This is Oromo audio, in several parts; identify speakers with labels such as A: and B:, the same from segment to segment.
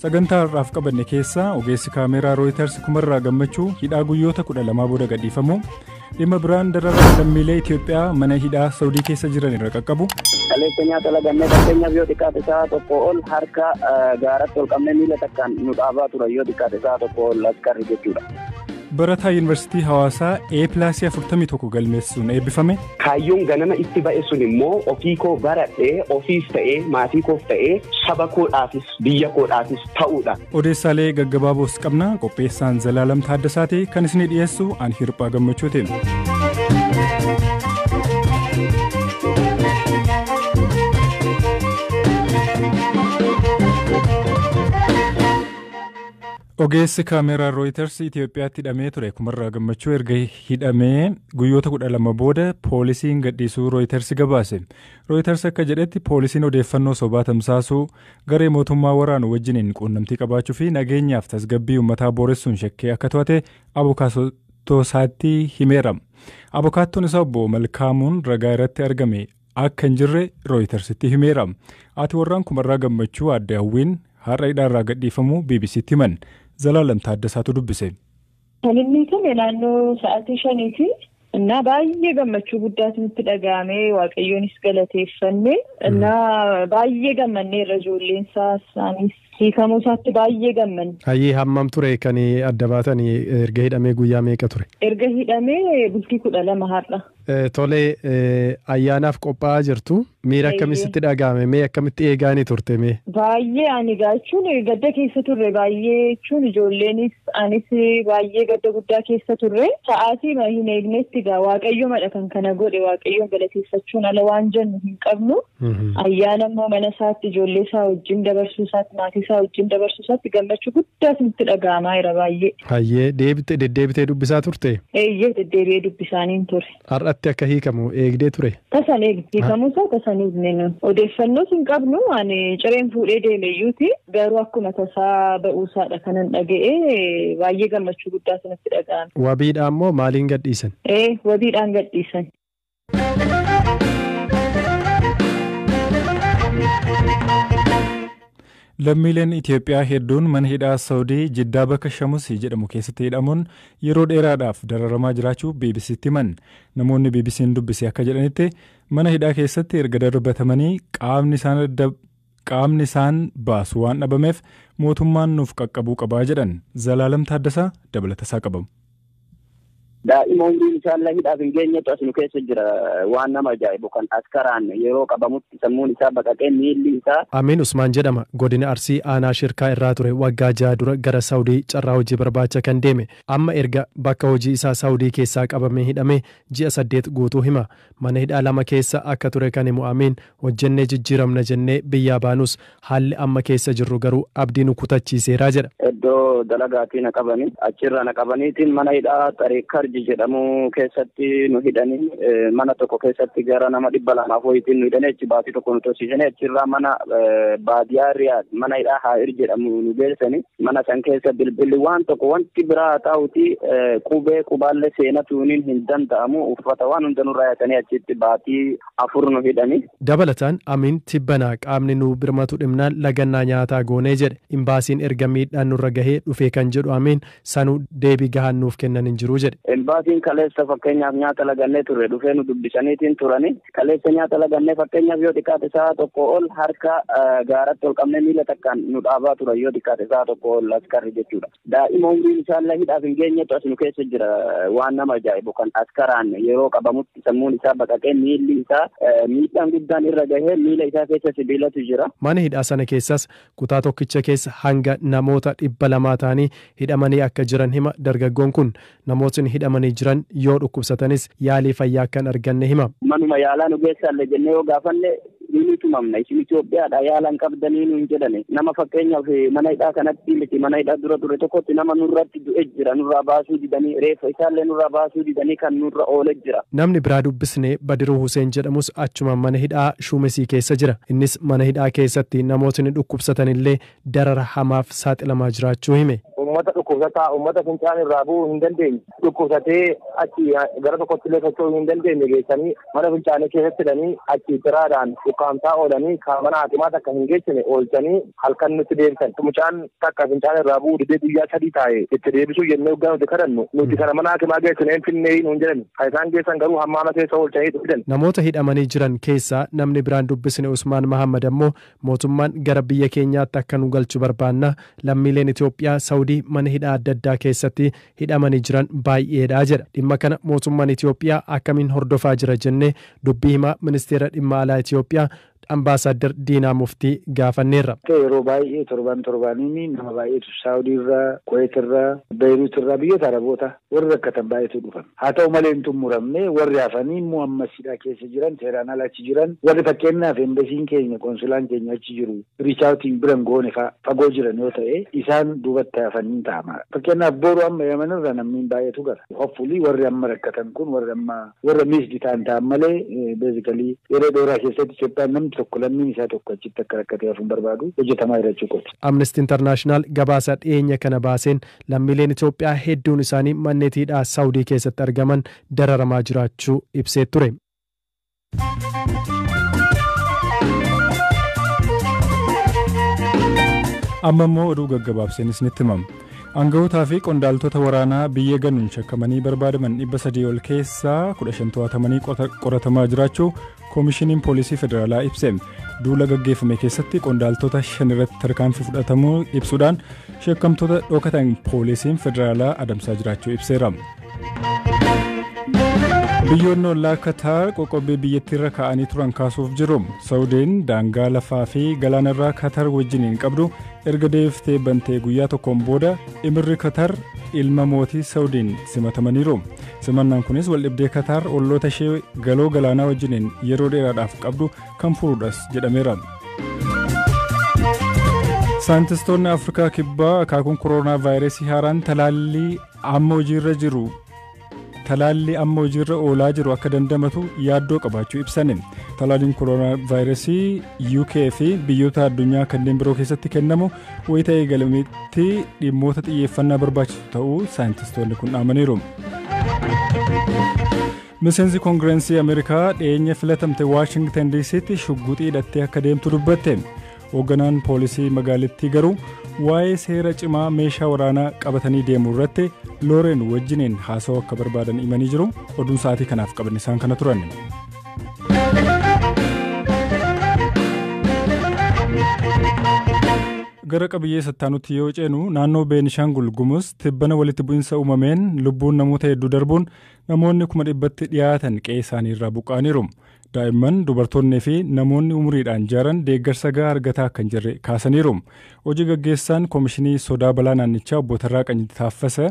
A: Sagantaa har'aaf qabanne keessaa ogeessi kaameeraa Rooyiters kumarraa gammachuu hidhaa guyyoota 12 booda gadhiifamuu dhimma biraan dararaa lammiilee Itoophiyaa mana hidhaa Saawudii keessa jiran irra qaqqabu. Kaleessa nyaata
B: lagannee fakkeenyaaf yoo xiqqaate sa'a tokko ol harka gaaratti ol qabnee miila takkaan nu dhaabaa turan yoo xiqqaate sa'a tokko ol askarri jechuudha. Barataa
A: Yuunivarsiitii Hawaasaa A pilaasii 41 galmeessuun eebbifame. Kaayyoon ganama
C: itti ba'e sun immoo ofii koo baradhee ofiis ta'ee maatii koof ta'ee saba koodhaafis biyya koodhaafis ta'uudha. Odeessaalee gaggabaaboos
A: qabna. Qopheessaan Zalaalam Taaddasaati kan isinii dhiyeessu an hirphaa gammachuuti. Ogeessi kaameeraa Rooyiters Itoophiyaatti hidhamee ture Kumarraa Gammachuu erga hidhamee guyyoota kudha lama booda poolisiin gadhiisuu Rooyiters gabaase. Rooyiters akka jedhetti poolisiin odeeffannoo sobaa tamsaasuu, garee mootummaa waraanu wajjiniin quunnamtii qabaachuu fi nageenyaaf tasgabbii uummataa booressuun shakkee akka to'ate abukaattoo isaatti himeera. Abukaattoon isaa obbo Malkaamuun ragaa irratti argame akka hin jirre Rooyitarsitti himeera. Haati warraan kumarraa gammachuu aadde Hawwiin har'a hidhaarraa gadhiifamuu BBCtti himan. Zalaalam Taaddasaatu dubbise. Kan inni
D: hidhame naannoo sa'aatii shaniiti. Innaa baay'ee gammachuu guddaatu nutti dhaga'ame waaqayyoonis galateeffanne. Innaa baay'ee gammannee irra ijoolleen isaa isaanis hiikamuu isaatti baay'ee gammanne. Hayyee hammam ture
E: kan adda baatan erga hidhamee guyyaa meeqa ture? Erga hidhamee
D: bultii kudha lama har'a. Tole
E: ayyaanaaf qophaa'aa jirtu. Miira akkamii sitti dhaga'ame? Mee akkamitti eegaa ni turte mee? Baay'ee ani egaa
D: jechuun gadda keessa turre baay'ee jechuun ijoolleenis anis baay'ee gadda guddaa keessa turre sa'aatii hin eegnetti egaa waaqayyomadha kan kana godhe waaqayyoon galateeffachuun ala waan jennu hin qabnu Ayyaana immoo mana isaatti ijoollee isaa wajjin dabarsuu isaatti maatii isaa wajjin dabarsuu isaatti gammachuu guddaa isinitti dhaga'amaa jira baay'ee. Hayyee deebite
E: deddeebitee dubbisaa turte? Eeyyee deddeebi'ee
D: dubbisaaniin ture. Har'atti akka hiikamu
E: eegdee ture? Tasan eegne hiikamuu
D: isaa tasan eegne nun. Odeeffannoos hin qabnu ani cireen fuudhee deeme iyyuuti garuu akkuma tasaa ba'uu isaadha kanan dhaga'e baay'ee gammachuu guddaa isinitti dhaga'ame. Wabiidhaan moo maaliin
E: gadhiisan? Ee wabiidhaan
D: gadhiisan.
A: Lammiileen Itoophiyaa hedduun mana hidhaa Saawudii Jiddaa bakka Shamusii jedhamu keessatti hidhamuun yeroo dheeraadhaaf dararamaa jiraachuu BBC'tti himan. Namoonni BBC'n dubbise akka jedhanitti mana hidhaa keessatti erga darbatamanii qaamni isaan Qaamni isaan baasu waan dhabameef mootummaan nuuf qaqqabuu qaba jedhan Zalaalam Taaddasaa dabalatasaa qaba.
B: Daa'ima umriin isaallee hidhaaf hin geenyetu as nu keessa jira. Waan nama ajaa'ibu kan askaraan yeroo qabamutti sammuun isaa baqaqee miilli isaa. Amiin Usmaan jedhama.
E: Godina Arsii aanaa Shirkaa irraa ture waggaa jaha dura gara Saawudii carraa hojii barbaacha kan deeme. Amma erga bakka hojii isaa Saawudii keessaa qabamee hidhamee ji'a saddeet guutuu hima. Mana hidhaa lama keessa akka ture kan himu Amiin Hojjennee jijjiiramna jennee biyyaa baanus haalli amma keessa jirru garuu abdii nu kutachiiseera jedha. Iddoo dalagaatii
B: na qabanii achirraa na qabaniitiin mana hidhaa Xariikarji jedhamu keessatti nu hidhanii mana tokko keessatti gara nama dhibba lamaaf wayiitiin nu hidhanii achi baatii tokko nu tursiisanii achirraa mana baadiyaa Riyaad mana hidhaa Haa'ir jedhamu nu geessanii mana san keessa bilbilli waan tokko wanti biraa haa ta'uuti qubee qubaallee seenatuuniin hin danda'amu uffata waan hunda nurraa yaatanii achitti baatii afur nu hidhani. Dabalataan Amiin
E: tibbana qaamni nu birmatu dhibnaan lagannaa nyaataa goone jedhe. Imbaasiin erga miidhaan nurra gahee dhufee kan jedhu Amiin, sanuu deebii gahaan nuuf kennan hin jiru jedhe. Imbaasiin kaleessa
B: fakkeenyaaf nyaata lagannee turre dhufee nu dubbisaniitiin turani. Kaleessa nyaata lagannee fakkeenyaaf yoo xiqqaate sa'a tokkoo ol harka gaaratti ol qabnee miila takkaan nu dhaabaa turan yoo xiqqaate sa'a tokkoo ol askarri jechuudha. Daa'ima umriin isaallee hidhaaf hin geenyetu as nu keessa jira. Waan nama ajaa'ibu kan askaraan yeroo qabamutti sammuun isaa baqaqee miilli isaa miidhaan guddaan irra gahee miila isaa keessa sibiilatu jira. Mana hidhaa sana keessas
E: kutaa tokkicha keessa hanga namoota dhibba lamaa ta'anii hidhamanii akka jiran hima dargaggoon kun. Namootni hidhamanii jiran yoo dhukkubsatanis yaalii fayyaa akka hin arganne hima. Manuma yaalaa nu geessaalle
B: jennee yoo gaafanne ni ni tumamna. Isin Itoophiyaadhaa yaala hin qabdanii nuun jedhani. Nama fakkeenyaaf mana hidhaa kanatti miti mana hidhaa dura ture tokkotti nama nurratti du'e jira. Nurraa baasuu didanii reeffa isaallee nurraa baasuu didanii kan nurra oole jira. Namni biraa dubbisne
E: Badiruu Huseen jedhamus achuma mana hidhaa Shuumesii keessa jira. Innis mana hidhaa keessatti namootni dhukkubsatanillee darara hamaaf saaxilamaa jiraachuu hime. Uummata
B: dhukkubsataa, uummata fincaan irraa bu'uu hin dandeenye, dhukkubsatee achi gara tokkotti illee socho'uu hin dandeenye geessanii mana fincaanii keessatti hidhanii achi ciraadhaan ukkaamsaa oolanii kan mana haakimaa takka hin geessine oolchanii halkan nutti deebisan. Mucaan takka fincaan irraa bu'uu didee guyyaa sadii taa'e itti deebisuu jennee hoggaa nuti kadhannu nuti kana mana haakimaa geessine hin finneeyii nuun jedhani. Kan isaan geessan garuu hammaama keessa oolchanii itti fidan. Namoota hidhamanii jiran
E: keessaa namni biraan dubbisne Usmaan Mahaammad ammoo Mootummaan gara biyya keenyaatti akka nu galchu barbaanna, lammiileen Itoophiyaa Sawudii mana hidhaa adda addaa keessatti hidhamanii jiran baay'eedha jedha. Dhimma kana mootummaan Itoophiyaa akkamiin hordofaa jira jennee dubbii himaa Ministeera Dhimma Alaa Itoophiyaa Ambaasaaddar Diinaa Muftii gaafanneerra. Yeroo baay'ee
F: torban torbaaniin nama baay'eetu Saawudiirraa, Kuweetirraa, Beeyiruutirraa, biyyoota Arabootaa Warri rakkatan baay'eetu dhufan. Haa ta'u malee hin xummuramne, warri hafanii immoo ammas hidhaa keessa jiran, seeraan ala achi jiran, warri fakkeennaaf Embasiin keenya, Konsulaan keenya achi jiru, reach out hin bira hin goone fa'a, fagoo jiran yoo ta'e, isaan duubatti hafan hin ta'a maal? Fakkeennaaf boru amma Yaman irra namni hin baay'atu gala. Hopefully warri amma rakkatan kun warri amma warra missed ta'an ta'an malee basically yeroo dheeraa keessatti Itoophiyaan namni tokko lammiin isaa tokko achitti akka rakkatee hafu hin barbaadu, hojjetamaa jira jechuu kooti. Amnesty International
E: gabaasa dhiyeenya kana baaseen Lammiileen Itoophiyaa hedduun isaanii manneetii hidhaa Saawudii keessatti argaman dararamaa jiraachuu ibsee ture.
A: Amma immoo oduu gaggabaabseen isinitti himama. Aanga'ootaa fi qondaaltota waraanaa biyya ganuun shakkamanii barbaadaman 300 ol keessaa 15 to'atamanii qoratamaa jiraachuu Koomishiniin Poolisii Federaalaa ibse duula gaggeeffame keessatti qondaaltota shan irratti tarkaanfii fudhatamuu ibsuudhaan shakkamtoota dhokatan poolisiin federaalaa adamsaa jiraachuu ibseera. Biyyoonni ollaa Kataar qoqqobbii biyyattiirra kaa'anii turan kaasuuf jiru. Saawudiin daangaa lafaa fi galaanarraa Kataar wajjin hin qabdu erga deebiftee bantee guyyaa tokkoon booda imirri Kataar ilma mootii Saawudiin simatamaniiru. Simannaan kunis waldhibdee Kataar olloota ishee galoo galaanaa wajjiniin yeroo dheeraadhaaf qabdu kan furuudhas jedhameera. Saayintistoonni Afrikaa Kibbaa akaakuun koroonaa vaayirasii haaraan talaallii amma hojiirra jiru talaallii amma hojiirra oolaa jiru akka dandamatu yaaddoo qabaachuu ibsani. Talaalliin koroonaa vaayirasii UK fi biyyoota addunyaa kanneen biroo keessatti kennamu Wayita eegalametti dhimmoota xiyyeeffannaa barbaachisu ta'uu saayintistoonni kun dhaamaniiru. Miseensi Koongirensii Ameerikaa dhiyeenya filatamte Waashingtan DC'tti shugguxii hidhattee akka deemtu dubbatte. Hoogganaan poolisii magaalittii garuu waa'ee seera cimaa meeshaa waraanaa qabatanii deemuu irratti Looreen wajjiniin haasawuu akka barbaadan himanii jiru. Oduun sa'aatii kanaaf qaban isaan kana turan. Gara qabiyyee sattaanutti yoo ceenu naannoo Beenishaangul Gumuz tibbana walitti bu'insa uumameen lubbuun namoota hedduu darbuun namoonni kuma dhibbatti dhiyaatan qe'ee isaanii irraa buqqa'aniiru. Daa'imman, dubartoonnii fi namoonni umuriidhaan jaaran deeggarsa gahaa argataa akka hin jirre kaasaniiru. Hojii gaggeessaan Komishinii Sodaa Balaa naannichaa obbo Tarraaqanyi Taaffasa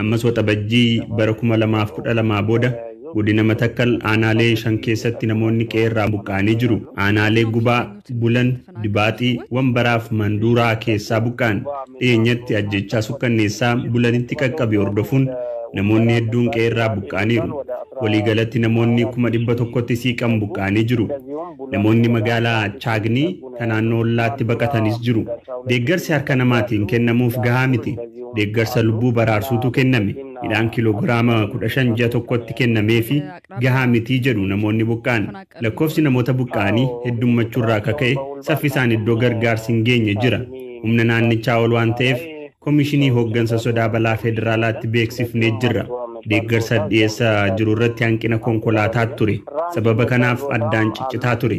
G: Ammas Waxabajjii bara 2012 booda Godina Matakkal aanaalee 5 keessatti namoonni qe'ee irraa buqqa'anii jiru. Aanaalee Gubaa, Bulan, Dibaaxii, Wambaraa fi Manduuraa keessaa buqqa'an. Dhiyeenyatti ajjeechaa sukkanneessaa Bulanitti qaqqabe hordofuun namoonni hedduun qe'ee irraa buqqa'aniiru. Waliigalatti namoonni 100,000tti siiqan buqqa'anii jiru. Namoonni magaalaa Chaagnii, ka naannoo ollaatti baqatanis jiru. Deeggarsi harka namaatiin kennamuuf gahaa miti. Deeggarsa lubbuu baraarsuutu kenname. Midhaan kiloogiraama 15 ji'a tokkotti kennameefi gahaa miti jedhu namoonni buqqa'an. Lakkoofsi namoota buqqa'anii heddummachuurraa ka ka'e saffisaan iddoo gargaarsi hin geenye jira. Humna naannichaa ol waan ta'eef Komishinii Hooggansa Sodaa Balaa Federaalaatti beeksifnee jirra. Deeggarsa dhiyeessa jirurratti hanqina konkolaataa ture. Sababa kanaaf addaan ciccitaa ture.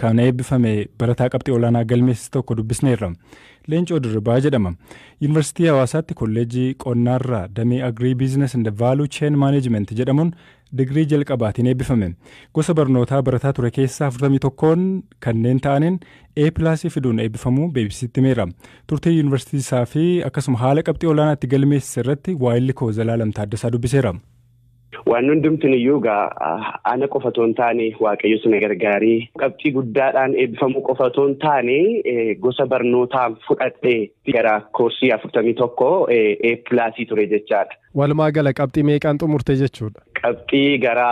A: Kan eebbifame barataa qabxii olaanaa galmeessise tokko dubbisneerra. Leencoo Dirribaa jedhama. Yuunivarsiitii Hawaasaatti kolleejjii qonnaarraa damee Agrii Biizines and Vaaluu Cheen Maaneejimenti jedhamuun digirii jalqabaatiin eebbifame. Gosa barnootaa barataa ture keessaa 41n kanneen ta'aniin A pilaasii fiduun eebbifamuu BBCtti himeera. Turtii yuunivarsiitii isaa fi akkasuma haala qabxii olaanaa itti galmeessise irratti waayilli koo Zalaalam Taaddasaa dubbiseera. Waan
C: hundumtiin iyyuu egaa ana qofa otoo hin taane waaqayyo sana gargaaree qabxii guddaadhaan eebbifamuu qofa otoo hin taane gosa barnootaa fudhadhee gara koorsii afurtamii tokko A pilaasii ture jechaadha. Walumaa gala qabxii
E: meeqaan xumurte jechuudha? Qabxii gara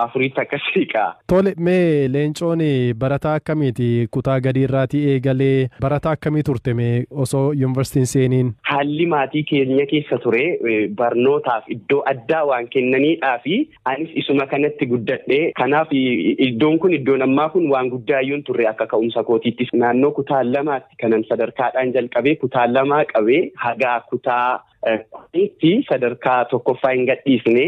C: afuriitti akkasii kaa. Tole mee
E: leencoon barataa akkamiiti kutaa gadii irraatii eegalee barataa akkamii turte mee osoo yuunivarsiitii hin seeniin? Haalli maatii
C: keenya keessa ture barnootaaf iddoo addaa waan kennaniidhaa fi anis isuma kanatti guddadhe. Kanaaf iddoon kun iddoon ammaa kun waan guddaa iyyuu hin turre akka ka'umsa kootiitti. Naannoo kutaa lamaatti kanan sadarkaadhaan jalqabee kutaa lamaa qabee hagaa kutaa Kunis sadarkaa tokkoffaa hin gadhiisne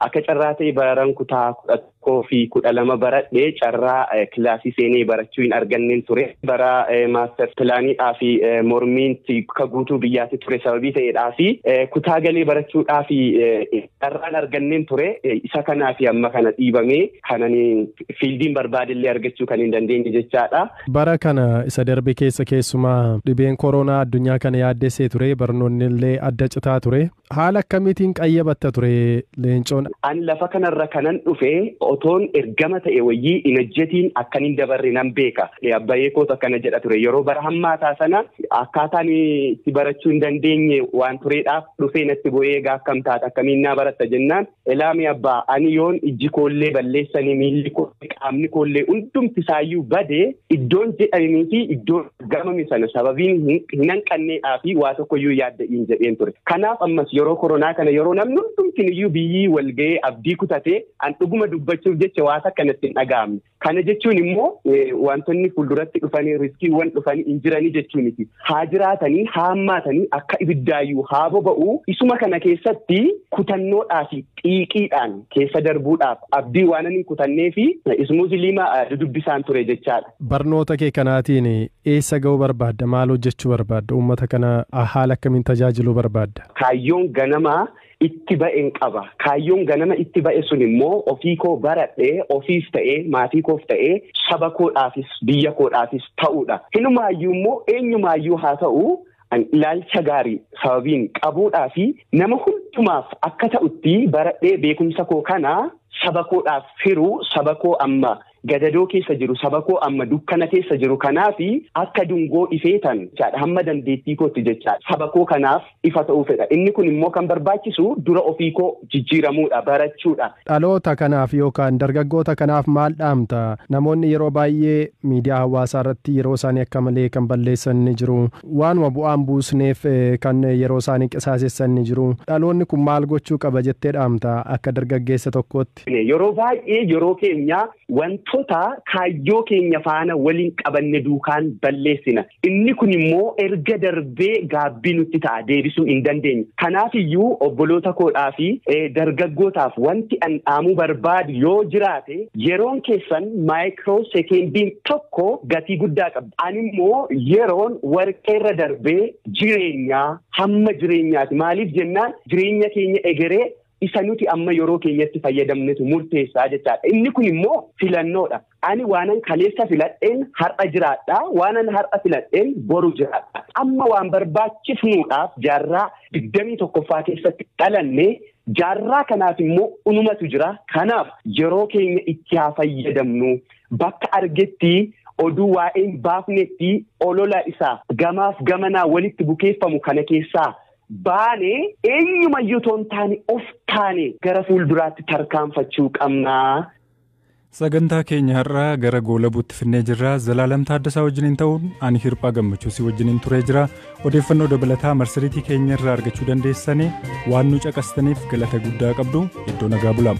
C: akka carraa ta'e baran kutaa kudha tokkoo fi kudha lama baradhe carraa kilaasii seenee barachuu hin arganneen ture. Bara maaster pilaaniidhaa fi mormiinti ka guutuu biyyaatti ture sababii ta'eedhaa fi kutaa galee barachuudhaa fi Carraan arganneen ture isa kanaa fi amma kana dhiibamee kanan fiildiin barbaadellee argachuu kan hin dandeenye jechaadha. Bara kana
E: isa darbe keessa keessumaa dhibeen koroonaa addunyaa kana yaaddessee ture barnoonni illee adda citaa ture. Haala akkamiitiin qayyabatta ture leencoon? Ani lafa kanarra
C: kanan dhufe otoon ergama ta'e wayyii inajjetiin akkan hin dabarre nan beeka. Abbayee koos akkana jedha ture yeroo bara hammaataa sana akkaataan itti barachuu hin dandeenye waan tureedhaaf dhufee natti bu'ee egaa akkam taata akkamiin naa baratta jennaan elaamii abbaa ani yoon ijji koollee balleessanii miilli koollee qaamni koollee hundumti isaayyuu badee iddoon jedhanii fi iddoon gamame sana sababiin hin hanqanneedhaa fi waa tokkoyyuu yaadda'iin jedheen ture kanaaf ammas yeroo koronaa kana yeroo namni hundumtiin iyyuu biyyii walga'ee abdii kutatee an dhuguma dubbachuuf jecha waa takka natti hin dhaga'amne Kana jechuun immoo wantoonni fuulduratti dhufanii riskiiwwan dhufanii hin jiranii jechuu miti. Haa jiraatanii haa hammaatanii akka ibiddaayyuu haa boba'uu isuma kana keessatti kutannoodhaa fi xiiqiidhaan keessa darbuudhaaf abdii waan hin kutannee fi ismuuziliima dudubbisaan ture jechaadha. Barnoota kee kanaatiin
E: eessa ga'uu barbaadda? Maal hojjechuu barbaadda? Uummata kana haala akkamiin tajaajiluu barbaadda? Kaayyoon ganamaa
C: itti ba'en qaba. Kaayyoon ganama itti ba'e sun immoo ofii koo baradhee ofiif ta'ee maatii koof ta'ee saba koodhaafis biyya koodhaafis ta'uudha. Hinumaayyuu immoo eenyumaayyuu haa ta'u an ilaalcha gaarii sababiin qabuudhaa fi nama hundumaaf akka ta'utti baradhee beekumsa koo kana saba koodhaaf hiruu saba koo amma gadadoo keessa jiru sabakoo amma dukkana keessa jiru kanaafi akka dungoo ifeetan jechaadha hamma dandeettii kootti jechaadha sabakoo kanaaf ifa ta'uu fedha inni kun immoo kan barbaachisu dura ofii koo jijjiiramuudha barachuudha. Dhaloota kanaaf
E: yookaan dargaggoota kanaaf maal dhaamta? Namoonni yeroo baay'ee miidiyaa hawaasaa irratti yeroo isaanii akka malee kan balleessan ni jiru. Waanuma bu'aan buusneef kan yeroo isaanii qisaasessan ni jiru. Dhaloonni kun maal gochuu qaba jettee dhaamta akka dargaggeessa tokkootti? keessatti. Yeroo baay'ee
C: yeroo keenya wantoota kaayyoo keenya faana waliin qabanne duukaan balleessina. Inni kun immoo erga darbee gaabbii nutti ta'a deebisuu hin dandeenye. Kanaaf iyyuu obboloota koodhaa fi dargaggootaaf wanti an dhaamuu barbaadu yoo jiraate yeroon keessan maayikiroo sekendiin tokko gatii guddaa qabdi. An immoo yeroon warqeerra darbee jireenyaa hamma jireenyaati. Maaliif jennaan jireenya keenya egeree Isa nuti amma yeroo keenyatti fayyadamnetu murteessaa jechaadha. Inni kun immoo filannoodha. Ani waanan kaleessa filadheen har'a jiraadha. Waanan har'a filadheen boru jiraadha. Amma waan barbaachifnuudhaaf jaarraa digdamii tokkoffaa keessatti dhalanne jaarraa kanaaf immoo unumatu jira. Kanaaf yeroo keenya itti haa fayyadamnu. Bakka argetti oduu waa'een baafnetti olola isaa gamaaf gamanaa walitti bukeeffamu kana keessaa baane eenyumayyuu otoo hin taane of taane gara fuulduraatti tarkaanfachuu qabna. Sagantaa
A: keenya har'aa gara goolabuutti finnee jirra. Zalaalam Taaddasaa wajjiniin ta'uun ani hirphaa gammachuu si wajjiniin turee jira. Odeeffannoo dabalataa marsariitii keenya irraa argachuu dandeessanii waan nu caqastaniif galata guddaa qabdu iddoo nagaa bulaa.